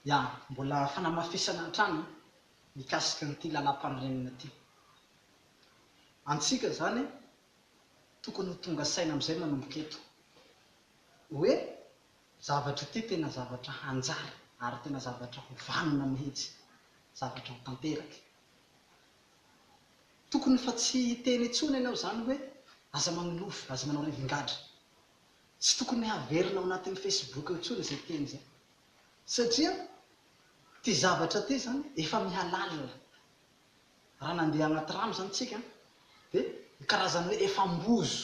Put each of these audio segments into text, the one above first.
Ya, mbola fanamafisana hatrany mikasika an'ity lalam-panorenana ity. Antsika izany tokony ho tonga saina amin'izay manomboka eto hoe zavatra ity tena zavatra hanjary ary tena zavatra ho vanona mihitsy, zavatra ho tanteraka. Tokony fa tsy hiteny intsony ianao izany hoe aza manolofy, aza manao rivingadra Tsy tokony haverina ao anatin'ny Facebook ao intsony izay teny izay satria ity zavatra ity izany efa mihalalina. Raha nandeha anaty rano izany isika dia ny karazany hoe efa ambozo.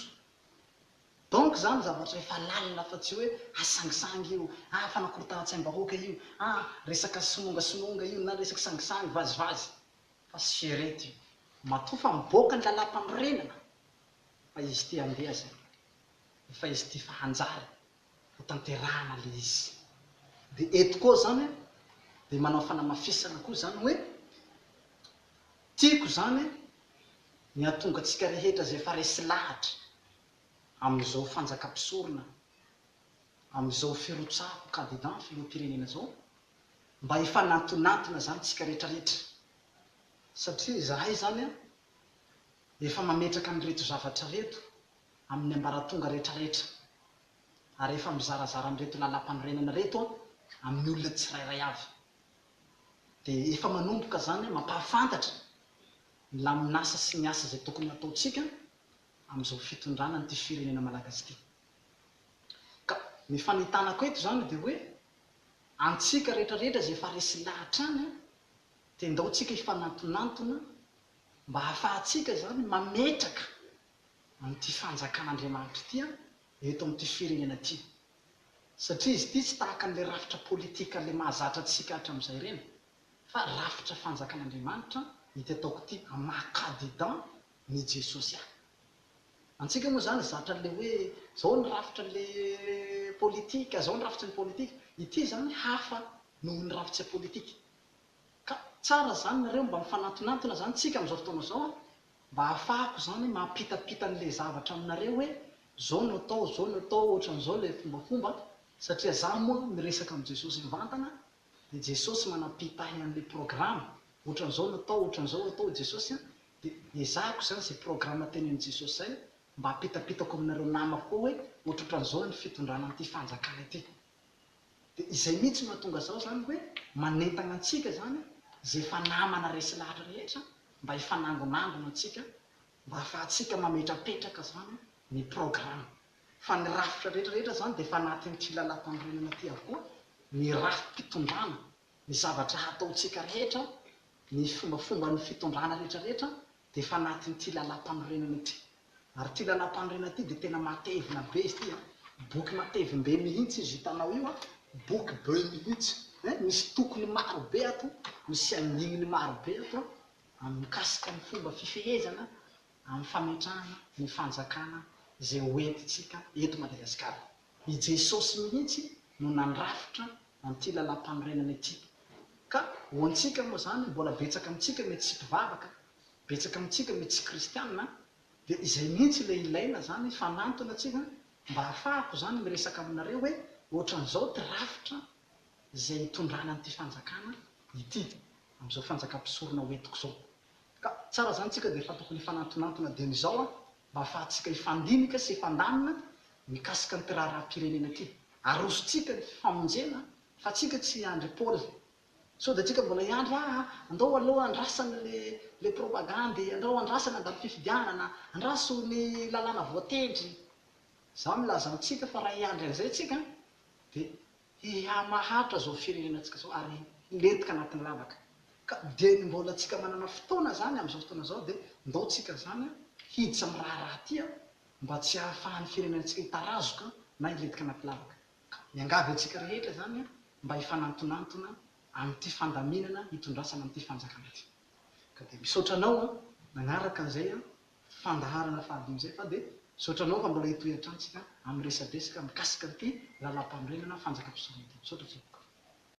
Donc izany zavatra efa lalina fa tsy hoe hasangisangy io, ah fanakorontanan-tsaim-bahoaka io, ah resaka simongasmonga io na resaka sangisangy, vazivazy. Fa sierety io. Matoa fa mivoaka ny lalàmpanorenana. Fa izy ity handeha zay. Efa izy ity fa hanjary ho tanterahana le izy. De eto koa zany de manao fanamafisana koa zany hoe tiako zany ny hatonga tsika rehetra zay efa resy lahatra amizao fanjaka mpisorona amizao firotsahako candidat filoha mpirenena zao mba hifanantonantona zany tsika retraretra satria zahay zany Efa mametraka an'ireto zavatra ireto amin'ny ambaratonga rehetrarehetra ary efa mizarazara an'ireto lalam-panorenana ireto amin'ny olona tsirairay avy. Dia efa manomboka izany mampahafantatra ny lamin'asa sy ny asa izay tokony hataontsika amin'izao fitondrana an'ity firenena malagasy ity. Ka ny fanentanako eto izany dia hoe antsika rehetrarehetra izay efa resy lahatra any dia ndao tsika hifanantonantona Mba hahafahantsika izany mametraka an'ity fanjakan'Andriamanitra ity eto amin'ity firenena ity. Satria izy ity tsy tahaka an'ilay rafitra politika ilay mahazatra antsika hatram'izay ireny, fa rafitra fanjakan'Andriamanitra ity ataoko ity amin'ny maha Kadidan n'i Jesosy ahy. Antsika moa izany zatra an'ilay hoe izao ny rafitra an'ilay politika, izao ny rafitry ny politika. Ity izany hafa noho ny rafitse politika. Ka tsara zany nareo mba mifanantonantona zany tsika amzao fotoana zao a, mba ahafahako zany mampitapita anle zavatra aminareo hoe zao no atao, zao no atao, otranzao le fombafomba, satria za moa miresaka am Jesosy mivantana de Jesosy manapitahy anle programa, otranzao no atao, otranzao atao Jesosy a, de ezahako zany ze programa tenenin Jesosy zay mba apitapitako aminareo namako koa hoe otrotranzao ny fitondrana anty fanjakana ity. Dia izay mihitsy no mahatonga izao izany hoe manentana antsika izany izay efa namana resy lahatra rehetra mba hifanangonangona antsika mba hahafahantsika mametrapetraka izany ny programme. Fa ny rafitra rehetra rehetra izany dia efa anatin'ity lalàmpanorenana ity avokoa, ny rafi-pitondrana, ny zavatra hataontsika rehetra, ny fombafomban'ny fitondrana rehetra rehetra Dia efa anatin'ity lalam-panorenana ity. Ary ity lalam-panorenana ity dia tena matevina be izy ity an! Boky matevim-be mihitsy izy hitanao io an! Boky be mihitsy eh! Misy tokony maro be ato, misy andininy maro be ato an! Amin'ny mikasika ny fomba fifehezana amin'ny fametrahana ny fanjakana izay hoentintsika eto Madagasikara. I Jesosy mihitsy no nandrafitra an'ity lalàmpanorenana ity. Ka ho antsika moa izany, mbola betsaka amintsika mety tsy mpivavaka, betsaka amintsika mety tsy kristiana, dia izay mihitsy ilay ilaina izany, fanantona tsika mba hahafahako izany miresaka aminareo hoe ohatran'izao ity rafitra izay hitondrana an'ity fanjakana ity, amin'izao fanjakam-pisorona hoentiko izao. Ka tsara izany tsika dia efa tokony hifanantonantona dieny izao an! Mba ahafahantsika hifandinika sy hifandamina mikasika an'ity raharaham-pirenena ity. Arosontsika ny famonjena fa antsika tsy hiandry Paoly. Sao dia antsika mbola hiandry ah andao aloha andrasana ilay propagandy, andao andrasana handalo fifidianana, andraso ny lalàna voatendry. Izaho milaza amintsika fa raha hiandry an'izay tsika dia. Hihamahantra izao firenenantsika izao ary hilentika anatin'ny lavaka. Ka dia ny mbola antsika manana fotoana izany amin'izao fotoana izao dia ndao tsika izany hiditra amin'ny raharaha ity mba tsy hahafahan'ny firenenantsika hitarazoka na hilentika anaty lavaka. Ka miangavy antsika rehetra izany mba hifanantonantona amin'ity fandaminana hitondrasana an'ity fanjakana ity. Ka dia misaotra anao nanaraka an'izay fandaharana fahadimy izay fa dia misaotra anao fa mbola hitohy hatrany isika amin'ny resadresaka mikasika an'ity lalàmpanorenana fanjakam-pisorona ity. Misaotra tompoko.